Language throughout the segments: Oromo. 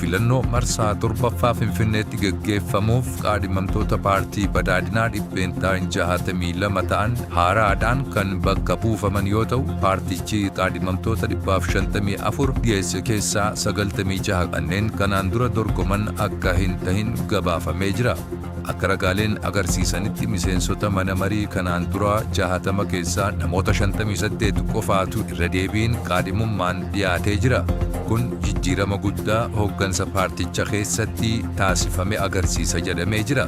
Filannoo marsaa torbaffaa Finfinneetti gaggeeffamuuf qaadhimamtoota paartii badhaadhinaa dhibbeentaa 62 ta'an haaraadhaan kan bakka buufaman yoo ta'u paartichi qaadhimamtoota 154 dhiyeesse keessaa 96 kanneen kanaan dura dorgoman akka hin tahin gabaafamee jira. Akka ragaaleen agarsiisanitti miseensota mana marii kanaan duraa 60 keessaa namoota 58 qofaatu irra deebiin kaadhimummaan dhiyaatee jira. Kun jijjiirama guddaa hooggansa paarticha keessatti taasifame agarsiisa jedhamee jira.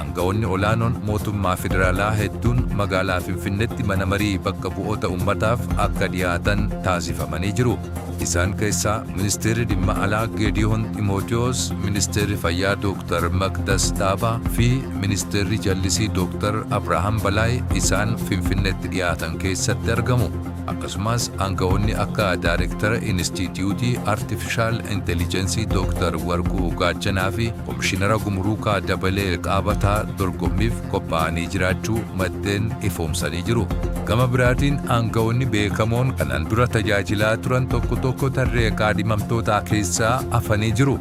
Aanga'oonni olaanoon mootummaa federaalaa hedduun magaalaa Finfinnetti mana marii bakka bu'oota ummataaf akka dhiyaatan taasifamanii jiru. Isaan keessaa Ministeerri Dhimma Alaa Geediyoon Ximootiyoos, Ministeerri Fayyaa Dooktar Maqdas Dhaabaa fi Ministeerri Jallisii Dooktar Abrahaam Balaay isaan Finfinneetti dhiyaatan keessatti argamu. Akkasumas aanga'oonni akka Daarektara Inistiitiyuutii Artifishaal Intelijensii Dooktar Warquu Gaachanaa fi Komishinara Gumuruukaa Dabalee Qaabataa dorgommiif qophaa'anii jiraachuu maddeen ifoomsanii jiru. Gama biraatiin aanga'oonni beekamoon kanaan dura tajaajilaa turan tokko tokko tarree kaadhimamtootaa keessaa hafanii jiru.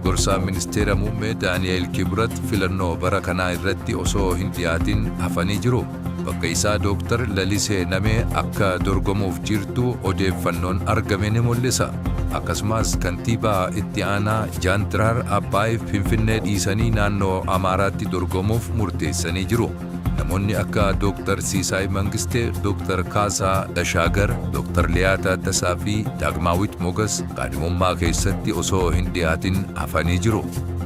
Gorsaan Ministeera Muummee Daani'eel Kibrat filannoo bara kanaa irratti osoo hin dhiyaatin hafanii jiru. Bakka isaa Dooktar Lalisee Namee akka dorgomuuf jirtu odeeffannoon argame ni mul'isa. Akkasumas kantiibaa itti aanaa Jaantiraar Abbaay Finfinnee dhiisanii naannoo Amaaraatti dorgomuuf murteessanii jiru. Namoonni akka Dooktar Siisaay Mangistee, Dooktar Kaasaa Tashaagar, Dooktar Liyaa Taaddasaa fi Daagmaawit Mogas kaadhimummaa keessatti osoo hin dhiyaatin hafanii jiru.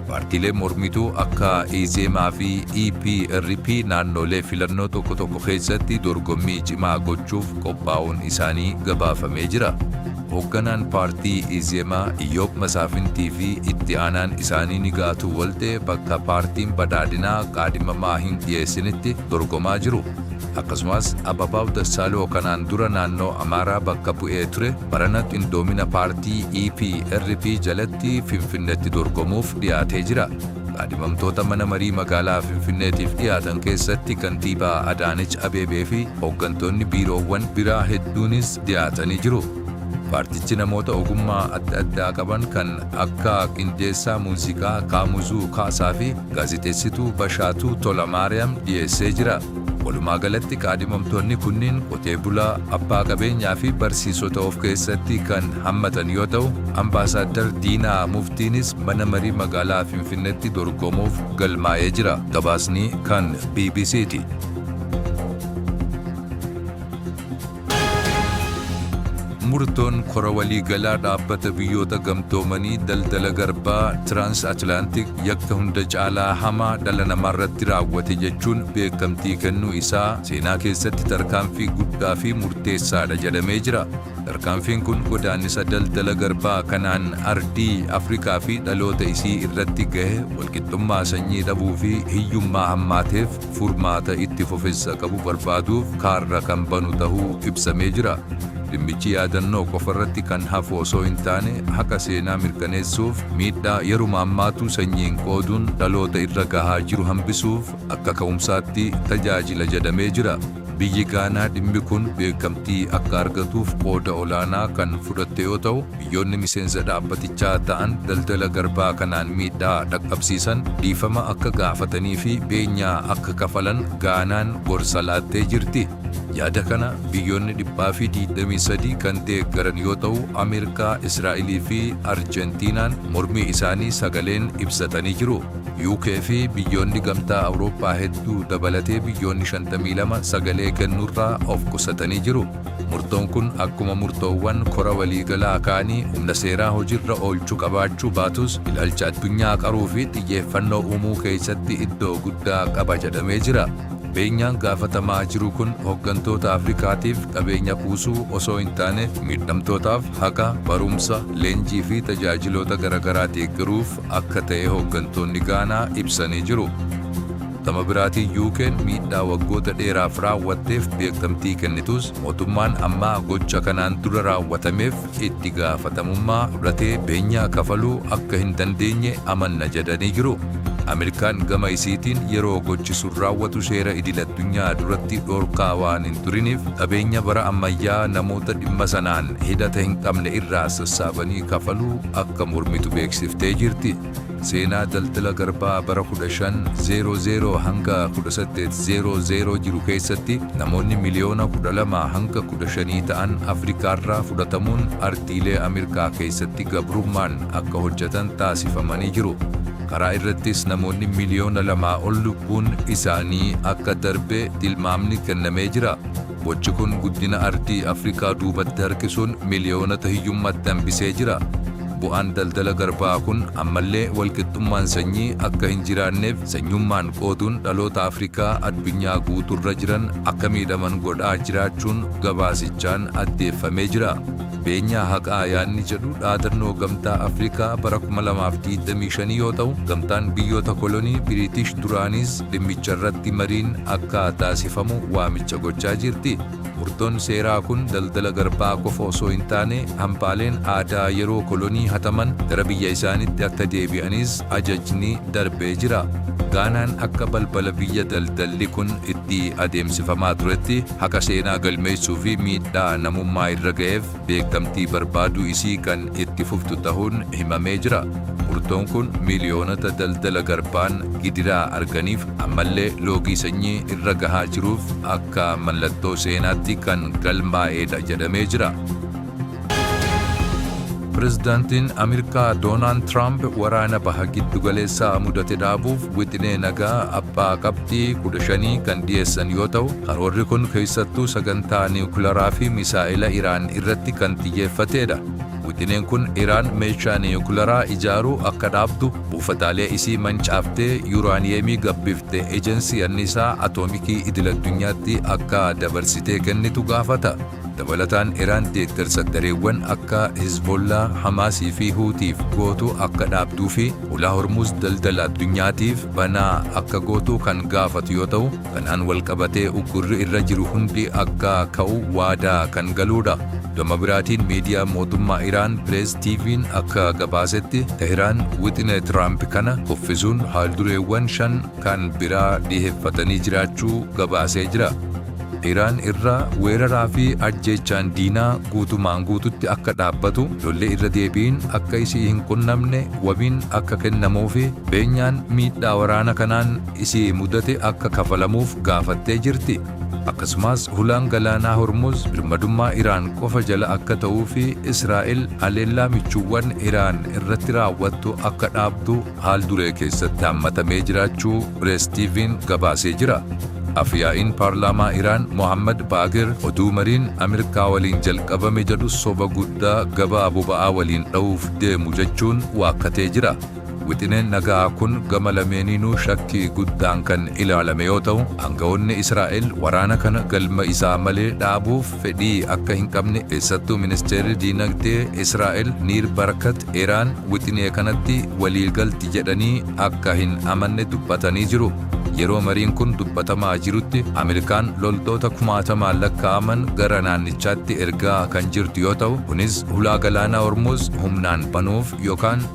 Paartiileen mormituu akka Izeemaa fi EPRP naannoolee filannoo tokko tokko keessatti dorgommii cimaa gochuuf qophaa'uun isaanii gabaafamee jira. Hoogganaan paartii Izeemaa Iyyoob Masaafintii fi itti aanaan isaanii Nigaatuu Waltee bakka paartiin badhaadhinaa qaadhimamaa hin dhiyeessinitti dorgomaa jiru. Akkasumas Ababaw Dassaaloo kanaan dura naannoo Amaaraa bakka bu'ee ture barana qindoomina paartii EPRP jalatti Finfinnetti dorgomuuf dhiyaatee jira. Kaadhimamtoota mana marii magaalaa Finfinneetiif dhiyaatan keessatti kantiibaa Adaanech Abeebee fi hooggantoonni biiroowwan biraa hedduunis dhiyaatanii jiru. Paartichi namoota ogummaa adda addaa qaban kan akka qindeessaa muuziqaa Kaamuzuu Kaasaa fi gaazexeessituu Bashaatuu Tolamaariyaam dhiyeessee jira. Walumaagalatti kaadhimamtoonni kunniin qotee bulaa, abbaa qabeenyaa fi barsiisota of keessatti kan hammatan yoo ta'u, Ambaasaaddar Diinaa Muftiinis mana marii magaalaa Finfinneetti dorgomuuf galmaa'ee jira. Gabaasni kan bbc ti. Murtoon kora waliigalaa dhaabbata biyyoota gamtoomanii daldala garbaa Tiraans Atilaantik yakka hunda caalaa hamaa dhala namaarratti raawwate jechuun beekamtii kennuu isaa seenaa keessatti tarkaanfii guddaa fi murteessaadha jedhamee jira. Tarkaanfiin kun godaannisa daldala garbaa kanaan ardii Afrikaa fi dhaloota isii irratti gahe walqixxummaa sanyii dhabuu fi hiyyummaa hammaateef furmaata itti fufinsa qabu barbaaduuf kaarra kan banu tahuu ibsamee jira. Dhimmichi yaadannoo qofa irratti kan hafu osoo hin taane haqa seenaa mirkaneessuuf miidhaa yeruma ammaatu sanyiin qooduun dhaloota irra gahaa jiru hambisuuf akka ka'umsaatti tajaajila jedhamee jira. Biyyi Gaanaa dhimmi kun beekamtii akka argatuuf qooda olaanaa kan fudhatte yoo tahu, Biyyoonni miseensa dhaabbatichaa ta'an daldala garbaa kanaan miidhaa dhaqqabsiisan dhiifama akka gaafatanii fi beenyaa akka kafalan Gaanaan gorsa laattee jirti. Yaada kana biyyoonni 123 kan deeggaran yoo ta'u, Ameerikaa, Israa'elii fi Arjentiinaan mormii isaanii sagaleen ibsatanii jiru. UK fi biyyoonni Gamtaa Awurooppaa hedduu dabalatee biyyoonni 52 sagalee kennuurraa of qusatanii jiru. Murtoon kun akkuma murtoowwan kora waliigalaa kaanii humna seeraa hojirra oolchu qabaachuu baatus ilaalcha addunyaa qaruu fi xiyyeeffannoo uumuu keessatti iddoo guddaa qaba jedhamee jira. Beenyaan gaafatamaa jiru kun hoggantoota Afrikaatiif qabeenya kuusuu osoo hin taane miidhamtootaaf haqa, barumsa, leenjii fi tajaajiloota garagaraa deeggaruuf akka ta'e hoggantoonni Gaanaa ibsanii jiru. Gama biraatiin UK'n miidhaa waggoota dheeraaf raawwatteef beekkamtii kennituus mootummaan ammaa gocha kanaan dura raawwatameef itti gaafatamummaa fudhatee beenyaa kafaluu akka hin dandeenye amanna jedhanii jiru. Ameerikaan gama isiitiin yeroo gochi sun raawwatu seera idil addunyaa duratti dhorkaa waan hin turiniif qabeenya bara ammayyaa namoota dhimma sanaan hidhata hin qabne irraa sassaabanii kafaluu akka mormitu beeksiftee jirti. Seenaa daldala garbaa bara 1500-1800 jiru keessatti namoonni miliyoona 12-15 ta'an Afrikaarraa fudhatamuun ardiilee Amirkaa keessatti gabrummaan akka hojjatan taasifamanii jiru. Karaa irrattis namoonni miliyoona lamaa ol lubbuun isaanii akka darbe tilmaamni kennamee jira. Gochi kun guddina ardii Afrikaa duubatti harkisuun miliyoonota hiyyummatti hambisee jira. Bu'aan daldala garbaa kun ammallee walqixxummaan sanyii akka hin jiraanneef sanyummaan qooduun dhaloota Afrikaa addunyaa guuturra jiran akka miidhaman godhaa jiraachuun gabaasichaan addeeffamee jira. Beenyaa haqaa yaadni jedhu dhaadannoo Gamtaa Afrikaa bara 2025 yoo ta'u, Gamtaan Biyyoota Kolonii Biriitish duraaniis Dhimmicharratti mariin akka taasifamu waamicha gochaa jirti. Murtoon seeraa kun daldala garbaa qofa osoo hin taane hambaaleen aadaa yeroo kolonii hataman gara biyya isaanitti akka deebi'anis ajajni darbee jira. Gaanaan akka balbala biyya daldalli kun itti adeemsifamaa turetti haqa seenaa galmeessuu fi miidhaa namummaa irra ga'eef beekamtii barbaaduu isii kan itti fuftu tahuun himamee jira. Murtoon kun miiliyoonota daldala garbaan gidiraa arganiif ammallee loogii sanyii irra gahaa jiruuf akka mallattoo seenaatti kan galmaa'eedha jedhamee jira. Pirezidaantiin Ameerikaa Doonaald Tiraamp waraana baha giddu galeessaa mudate dhaabuuf wixinee nagaa abbaa qabxii kudha shanii kan dhiyeessan yoo ta'u, Karoorri kun keessattuu sagantaa niwukilaraa fi misaa'ela Iraan irratti kan xiyyeeffateedha. Wixineen kun Iraan meeshaa niwukilaraa ijaaruu akka dhaabdu, buufataalee isii mancaaftee yuuraaniyeemii gabbifte Ejensii Anniisaa Atoomikii Idil-addunyaatti akka dabarsitee kennitu gaafata. Dabalataan Iraan deeggarsa gareewwan akka Hizbollaa, Hamaasii fi Huutiif gootu akka dhaabduu fi Ulaa Hormuuz daldala addunyaatiif banaa akka gootu kan gaafatu yoo ta'u, Kanaan walqabatee uggurri irra jiru hundi akka ka'u waadaa kan galuudha. Gama biraatiin miidiyaa mootummaa Iraan Pirees TV'n akka gabaasetti Tehraan wixinee Tiraamp kana kuffisuun haaldureewwan shan kan biraa dhiheeffatanii jiraachuu gabaasee jira. Iraan irra weeraraa fi ajjeechaan diinaa guutumaan guututti akka dhaabbatu, lolli irra deebiin akka isii hin qunnamne wabiin akka kennamuu fi beenyaan miidhaa waraana kanaan isii mudate akka kafalamuuf gaafattee jirti. Akkasumaas hulaan galaanaa Hormuz birmadummaa Iraan qofa jala akka ta'uu fi Israa'el haleellaa michuuwwan Iraan irratti raawwattu akka dhaabdu haal duree keessatti hammatamee jiraachuu Press TV'n gabaasee jira. Af-yaa'iin paarlaamaa Iraan Mohaammad Baagir oduu mariin Amirkaa waliin jalqabame jedhu soba guddaa gabaa boba'aa waliin dha'uuf deemu jechuun waakkatee jira. Wixineen naga'aa kun gama lameeniinuu shakkii guddaan kan ilaalame yoo ta'u, aanga'oonni Israa'el waraana kana galma isaa malee dhaabuuf fedhii akka hin qabne keessattuu ministeerri diinagdee Israa'el Niir Barkat Iraan wixinee kanatti walii galti jedhanii akka hin amanne dubbatanii jiru. Yeroo mariin kun dubbatamaa jirutti Ameerikaan loltoota kumaatamaan lakkaa'aman gara naannichaatti ergaa kan jirtu yoo ta'u, kunis hulaa galaanaa Hormuuz humnaan banuuf yookaan